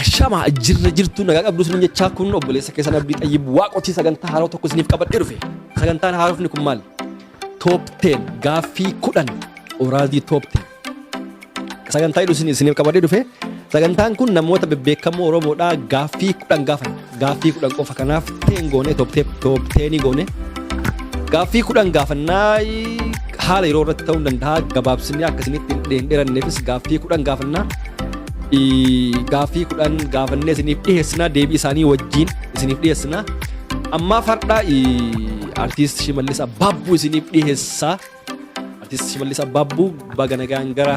Ashama jirra jirtu nagaa qabdu isin jechaa kun obboleessa keessan abdii xayyib waaqotii sagantaa haaroo tokko isiniif qabadhee dhufe. Sagantaan haarofni kun maali? Top 10 gaaffii 10 oraazii top 10. Sagantaa jedhu isin- isiniif qabadhee dhufe. Sagantaan kun namoota bebbeekamoo Oromoodhaa gaaffii 10 gaafata. Gaaffii kudhan qofa kanaaf teen goone top ten- top teenii goone. Gaaffii kudhan gaafannaa haala yeroo irratti ta'uu ni danda'a gabaabsinni akka isinitti hin dheeran- dheeranneefis gaaffii kudhan gaafannaa. Ii- Gaaffii kudhan gaafannee isiniif dhiyeessinaa deebii isaanii wajjin isiniif dhiyeessinaa. Ammaa fardhaa artiist Shimallis Abbaabbuu isiniif dhiyeessaa. Artiist Shimallis Abbaabbuu baga nagaan gara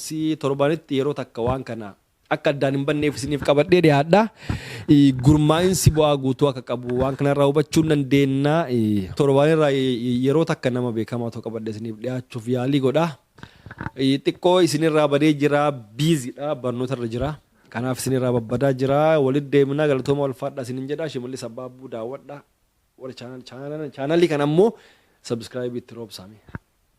C. Torbanitti yeroo takka waan kana akka addaan hin banneef isiniif qabadhee dhiyaadha. I. Gurmaa'insi bu'aa guutuu akka qabu waan kana irraa hubachuu ni dandeenna. I. Torbaan irraa yeroo takka nama beekamaa tokko qabadhee isiniif dhiyaachuuf yaalii godha. I. Xiqqoo isin irraa badee jira, busy dha, barnoota irra jira. Kanaaf isin irraa babbadaa jira. Walitti deebina, galatoomaa ulfaadhaa isiniin jedha. Shimallis Abbaabbuu daawwadhaa. Warri channel, channel, channel kana immoo subscribe itti roobsaa mee.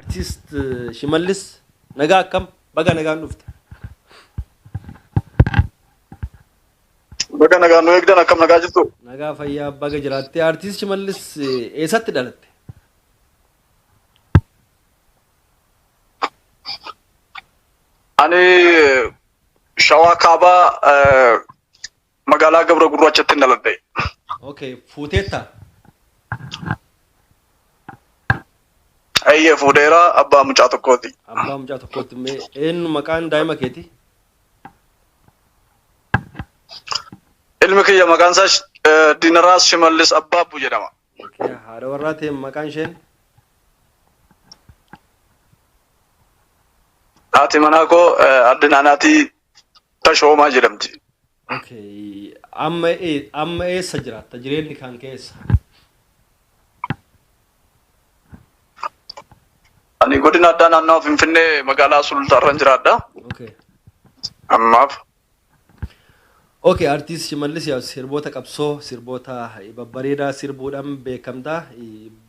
Artist Shimallis nagaa akkam baga nagaan dhufte. Baga nagaan nu eegdan akkam nagaa jirtu? Nagaa fayyaa baga jiraatte. Artist Shimallis eh, eessatti dhalatte? Ani shawaa kaabaa eh, Magaalaa Gabra Gurraachatti hin dhaladhe. Okay, fuuteetta. Eeyyee fuudheera abbaa mucaa tokkooti. Abbaa mucaa tokkootti mee eenyu maqaan daa'ima keeti? Ilmi kiyya maqaan isaa Sh- eh, Dinaraas Shimallis Abbaabbu jedhama. Okay, haadha warraa ta'e maqaan isheen? Haati manaa koo eh, Addin Anaatii Tashoomaa jedhamti. Okay. Amma ee- amma eessa jiraatta jireenyi kan keessa? Ani godina addaa naannawaa Finfinnee magaalaa Sulultaarran jiraadha. Okay. Ammaaf Okay, artiist Shimallis yaa sirboota qabsoo, sirboota eh, babbareedaa sirbuudhaan beekamta. Eh,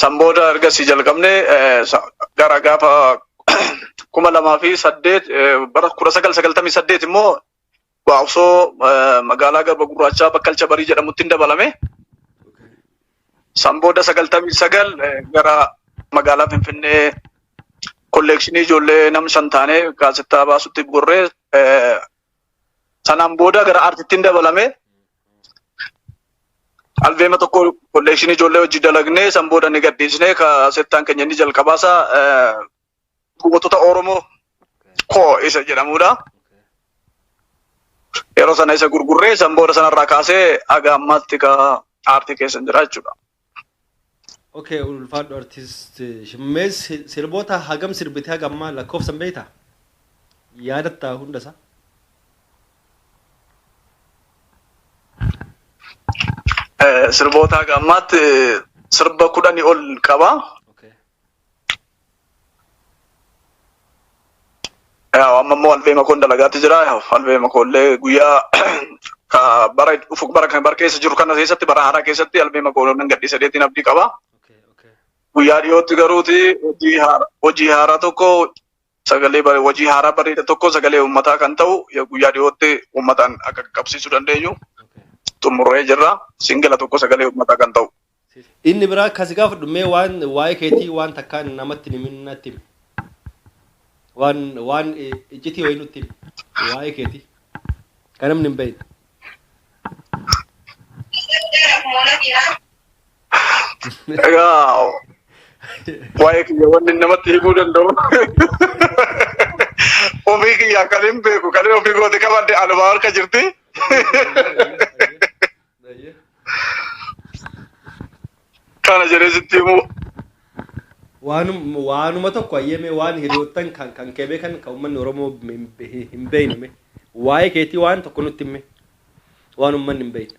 San booda ergasii jalqabnee eh, sa- gara gaafa kuma lamaa fi saddeet eh, bara kudha sagal sagaltamii saddeet immoo Baawusoo eh, magaalaa Garba Gurraachaa Bakkalcha Barii jedhamutti hin dabalame. San booda sagaltamii sagal eh, gara magaalaa Finfinnee kolleekshinii ijoollee nam shan taanee gaazexaa baasutti gorree eh, sanaan booda gara aartittiin dabalame. Albeema tokko kolleekshinii ijoollee hojii dalagnee san booda ni gadhiisnee ka settaan keenya inni jalqabaasa gootota Oromoo koo isa jedhamudha. Yeroo sana isa gurgurree san booda sanarraa kaasee haga ammaatti ka aartii keessa jira jechuudha. Ok ulfaadhu artist mee si- sirboota hagam sirbite haga ammaa lakkoofsan beekta? Yaadatta hunda isaa? Eh, Sirboota haga ammaatti eh, sirba kudhanii ol qaba. Ok. Yaa amma immoo albee makoon dalagaatti jira. Yaa albee makoollee guyyaa ka bara dhufu bara kan bara keessa jiru kana keessatti bara haaraa keessatti albee makoon nan gadhiisa deetiin abdii qaba. Okay, okay. Guyyaa dhiyootti garuuti hojii haara- hojii haaraa tokko Sagalee bare- hojii haaraa bareeda tokko sagalee uummataa kan ta'u ya- guyyaa dhiyootti uummataan akka qaqqabsiisuu dandeenyu xumurree jirra. Singila tokko sagalee uummataa kan ta'u. Inni biraa kasi gaafadhu mee waan waa'ee keetii waan takkaa namatti hin himin natti himi. Waan waan eh, iccitii wayii nutti himi. Waa'ee keetii. Kan namni hin beekne. Egaa waa'ee kiyya wanni namatti himuu danda'u. Ofii kiyyaa kan hin beeku kan ofii kooti qabadde anuma harka jirti. Kana jedhee sitti himuu. Waanum- waanuma tokko ayyeme waan hiriyoottan kan kan kee beekan kan uummanni oromoo hin hin- hin beekne mee. waa'ee keetii waan tokko nutti himme waan uummanni hin beekne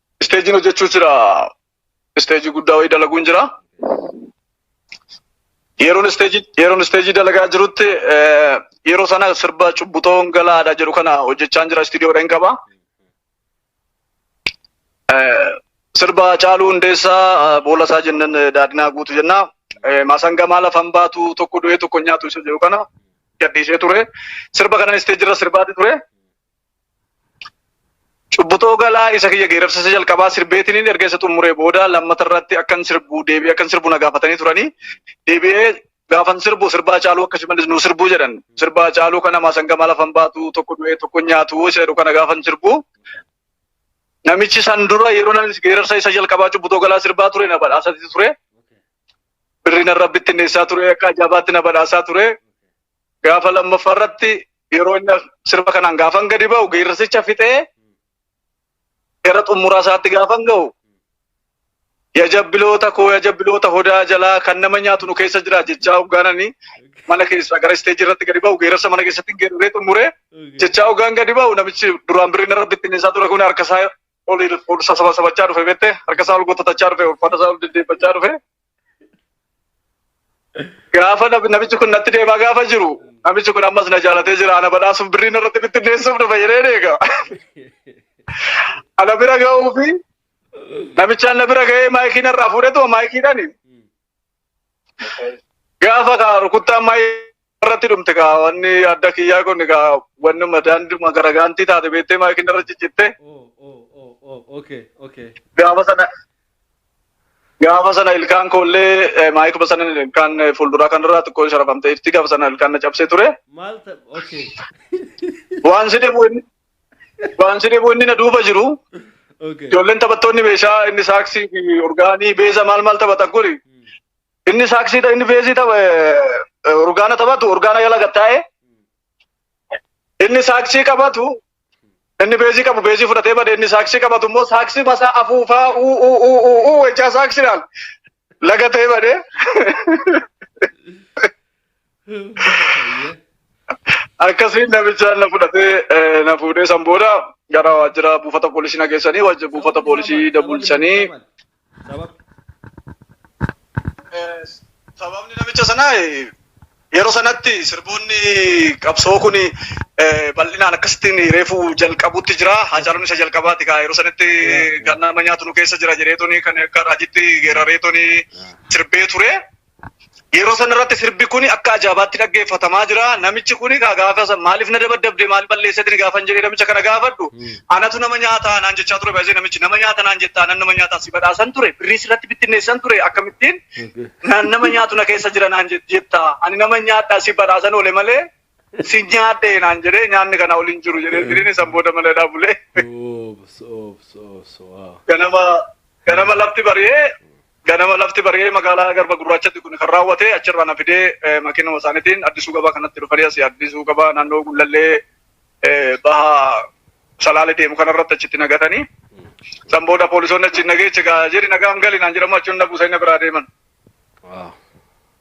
Isteejiin hojjechuu jira. Isteejii guddaa wayii dalaguun jira. Yeroon isteejii yeroon isteejii dalagaa jirutti eh, yeroo sana sirba cubbutoon galaadha jedhu kana hojjechaan jira istiidiyoo dhaan qaba. Eh, Sirba caaluu hundeessaa eh, boolla isaa jennan eh, daadinaa guutu jenna. Eh, Maasanga maal afaan baatu tokko du'ee tokko nyaatu isa jedhu kana gadhiisee ture. Sirba kanan isteejii irra sirbaati ture. Cubbutoo galaa isa kiyya geerarsa isa jalqabaa sirbeetiniin erga isa xumuree booda lammata irratti akkan sirbu deebi'ee akkan sirbu na gaafatanii turanii deebi'ee gaafan sirbu sirba Hacaaluu akka Shimallis nuu sirbuu jedhan sirba Hacaaluu kana maasan gamaa lafan baatu tokko du'ee tokko nyaatu isa jedhu kana gaafan sirbu namichi san dura yeroo nan geerarsa isa jalqabaa cubbutoo galaa sirbaa ture na badhaasati ture birriin rabbitti inneessaa ture akka ajaabaatti na badhaasaa ture Gaafa lammaffaa irratti yeroo inni sirba kanaan gaafan gadi ba'u geerarsicha fixee gara xumuraa isaatti gaafan ga'u ya jabbiloota koo ya jabbiloota hodaa jalaa kan nama nyaatu nu keessa jira jechaa hoggaananii mana keessaa gara isteejii irratti gadi ba'u geerarsa mana keessatti geeraree xumuree jechaa hoggaan gadi ba'u namichi duraan birriin irra bittinneessaa ture kun harka isaa ol ol sasabachaa dhufe bette harka isaa ol gotatachaa dhufe uffata isaa ol deddeebbachaa dhufe. Gaafa nab- namichi kun natti deemaa gaafa jiru namichi kun ammas na jaalatee jira ana badhaasuuf birrii narratti bitti deessuuf dhufe jedhee deega. Ana bira ga'uu fi namichaan na bira ga'ee maayikii narraa fuudhetu maayikiidhaan Gaafa kaa rukuttaa ammaa irratti dhumte kaa wanni adda kiyyaa kun kaa wanni madaanduma garagaantii taate beektee maayikiin irra ciccitte. Oh, oh, oh, oh, okay, okay. Gaafa sana gaafa sana ilkaan koollee eh, maayikuma sana ilkaan eh, fuulduraa kanarraa xiqqoo sharafamtee jirti. Gaafa sana ilkaan na cabsee ture. Maal ta okay. Waan si dhibu inni Waan si dhibu inni na duuba jiru. Okay. Ijoolleen taphattoonni meeshaa inni saaksii fi urgaanii beeza maal maal taphatan kuni. Inni saaksii inni beezii tapha eh, urgaana taphatu urgaana yala gattaa'e. Inni saaksii qabatu inni beezii qabu beezii fudhatee bade inni saaksii qabatu immoo saaksii masaa afuufaa uu uu uu uu uu wajjaa saaksiidhaan lagatee bade. Eeyyee. Akkasiin namichaan na fudhatee eh, na fuudhee san booda gara waajjira buufata poolisii na geessanii waajjira buufata Sababni isaa poolisii maal? dabbulchanii Sababni isaa maal? Sababni. eh, sababni namicha sanaa eh, yeroo sanatti sirboonni qabsoo kun eh, bal'inaan akkasittiin reefuu jalqabutti jira. Haacaaluun isa jalqabaati kaa yeroo sanatti Yaa, yaa. kan nama nyaatu nu keessa jira jedheetuni kan akka raajitti geerareetuni sirbee ture. Yeroo san irratti sirbi kuni akka ajaabaatti dhaggeeffatamaa jira. Namichi kuni kaa gaafa san maaliif na dabaddabde maal balleessatini gaafan jedhee namicha kana gaafadhu anatu nama nyaataa naan jechaa ture baay'ee namichi nama nyaata naan jettaa nan nama nyaataa si badhaasan ture birriis irratti bittinneessan ture akkamittiin naan nama nyaatu na keessa jira naan jettaa ani nama nyaadhaa si badhaasan oole malee Si nyaadhe naan jedhee nyaanni kanaa ol hin jiru jedhee firiin isan booda mana hidhaa bulee. Obs obs obs waa. Ganama ganama lafti bari'ee ganama lafti bari'ee magaalaa garba gurraachatti kun kan raawwate achirraa na fidee eh, makiinuma isaaniitiin addisuu gabaa kanatti dhufanii asii addisuu gabaa naannoo gullallee eh, baha salaale deemu kanarratti achitti nagatanii. San booda poolisoonni achi nageecha gaa jedhi nagaan gali naan jedhamu achuun na buusanii na biraa deeman. Waa.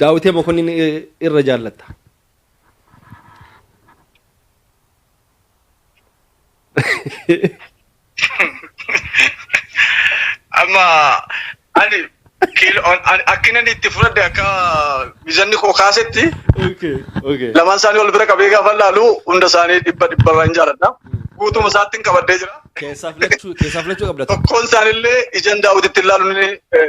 Daawitee Mokonnin irra jaallatta. Amma ani kiil- on- ani akka inni itti fudhadhe akka miizanni koo kaasetti Okay, okay. lamaan isaanii wal bira qabee gaafa laalu hunda isaanii dhibba dhibba irraa hin jaaladha. Guutuma isaatti hin qabadhee jira. Keessaa filachuu keessaa filachuu qabda. Tokkoon isaanillee ijaan daawwititti ilaaluun eh,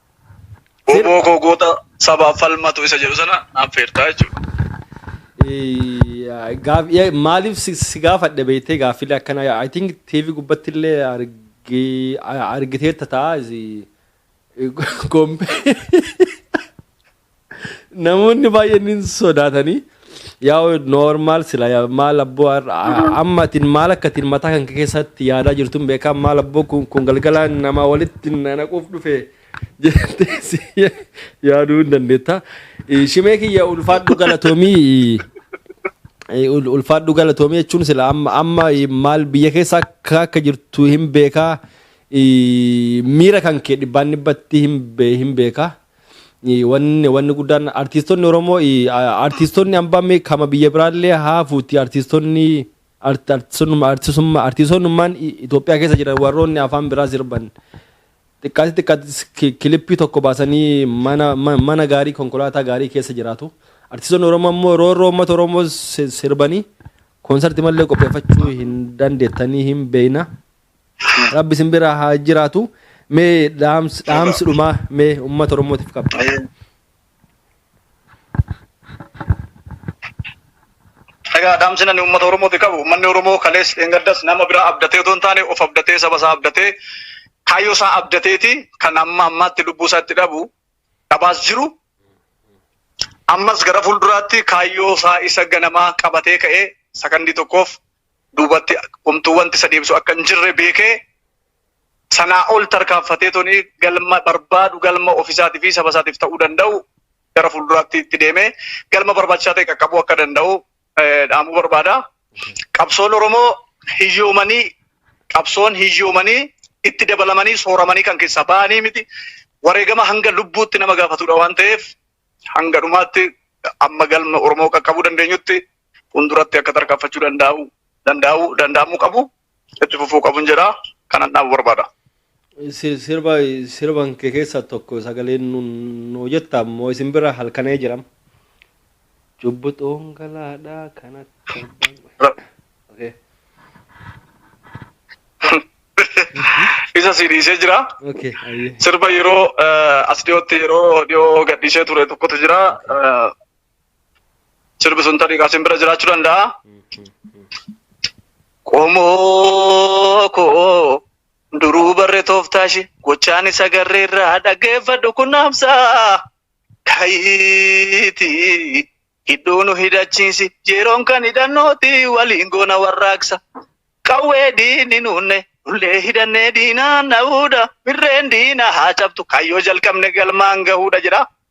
Booboo koo goota sabaaf falmatu isa jedhu sana affeertaa jechuudha. Eh, gaaf- eh, maaliif si si gaafadhe beektee gaaffilee akkana I think TV gubbatti illee argi- argiteetta ta'a. Is- eh, Gombe. Namoonni baay'een ni sodaatanii yaa noormaal sila yaa maal abboo har'a amma atin maal akka atin mataa kan kee keessatti yaadaa jirtun beekaa maal abboo kun kun galgala nama walitti na naquuf dhufe jettee si yaaduu hin dandeetta. Eh, Shimee kiyya ulfaadhu galatoomii eh, ul- ulfaadhu galatoomii jechuun sila amma amma eh, maal biyya keessa akka akka jirtu hin beekaa eh, miira kan kee dhibbaan dhibbatti hin be- hin beekaa. Wanni wanni guddaan artiistonni Oromoo artiistonni ambaa mee kama biyya biraallee haafuutti artiistonni artiisonnummaan Itoophiyaa keessa jiran warroonni afaan biraa sirban xiqqaatti xiqqaatti kilippii tokko baasanii mana mana gaarii konkolaataa gaarii keessa jiraatu. Artiistonni Oromoo immoo roorroo uummata Oromoo sirbanii koonsartii malee qopheeffachuu hin dandeettanii hin beeyna. Rabbi sin biraa haa jiraatu. Mee dhaams dhaamsi dhumaa mee uummata Oromootiif qabda. Egaa dhaamsi ani uummata Oromooti qabu uummanni Oromoo kalees dheengaddas nama biraa abdatee otoo hin taane of abdatee saba isaa abdatee kaayyoo isaa abdateeti kan amma ammaatti lubbuu isaa itti dhabu dhabaas jiru. Ammas gara fuulduraatti kaayyoo isaa isa ganamaa qabatee ka'ee sakandii tokkoof duubatti homtuu wanti isa deebisu akka hin jirre beekee sanaa ol tarkaanfatee tuni galma barbaadu galma ofisaatii fi saba isaatiif ta'uu danda'u gara fuulduraatti itti deemee galma barbaachisaa ta'e qaqqabuu akka danda'u dhaamuu barbaada. Qabsoon Oromoo hiyyoomanii qabsoon hiyyoomanii itti dabalamanii sooramanii kan keessaa ba'anii miti. Wareegama hanga lubbuutti nama gaafatudha waan ta'eef hanga dhumaatti amma galma Oromoo qaqqabuu dandeenyutti fuulduratti akka tarkaanfachuu danda'u danda'u danda'amuu qabu itti fufuu qabun jedha kanan dhaabu barbaada. Si- Sirba sirban kee keessaa tokko sagaleen nu nu jetta ammoo isin bira halkanee jiram. Cubbu xoongalaadhaa kan akka Ra- Okay. Isa si dhiisee jira. Okay. Ayyee. Sirba yeroo eh, as dhiyootti yeroo dhiyoo gadhiisee ture tokkotu jira. Eh, sirbi sun tarii kaasin bira jiraachuu danda'a. Qomoo koo duruu barree tooftaa ishee gochaan isa garree irraa dhaggeeffadhu kunnaamsaa. Kayiiti hidhuu nu hidhachiisi yeroon kan hidhannooti waliin goona warraaqsa. Qawwee diinni nuunne nullee hidhannee diinaan dha'uudha mirreen diina haa cabtu kaayyoo jalqabne galmaan gahuudha jedha.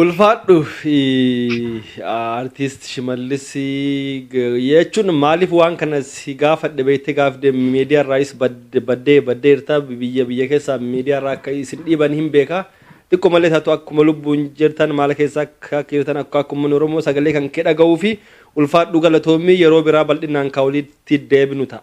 Ulfaadhu artist Shimallis jechuun maaliif waan kana si gaafadhe beektee gaafdee miidiyaa irraayis baddee baddee jirta biyya biyya keessaa miidiyaa irraa akka isin dhiiban hin beeka. Xiqqoo malee taatu akkuma lubbuun jirtan maala keessa akka jirtan akka akkuma Oromoo sagalee kan kee dhaga'uu fi ulfaadhu galatoomii yeroo biraa bal'inaan kaa walitti deebinu ta'a.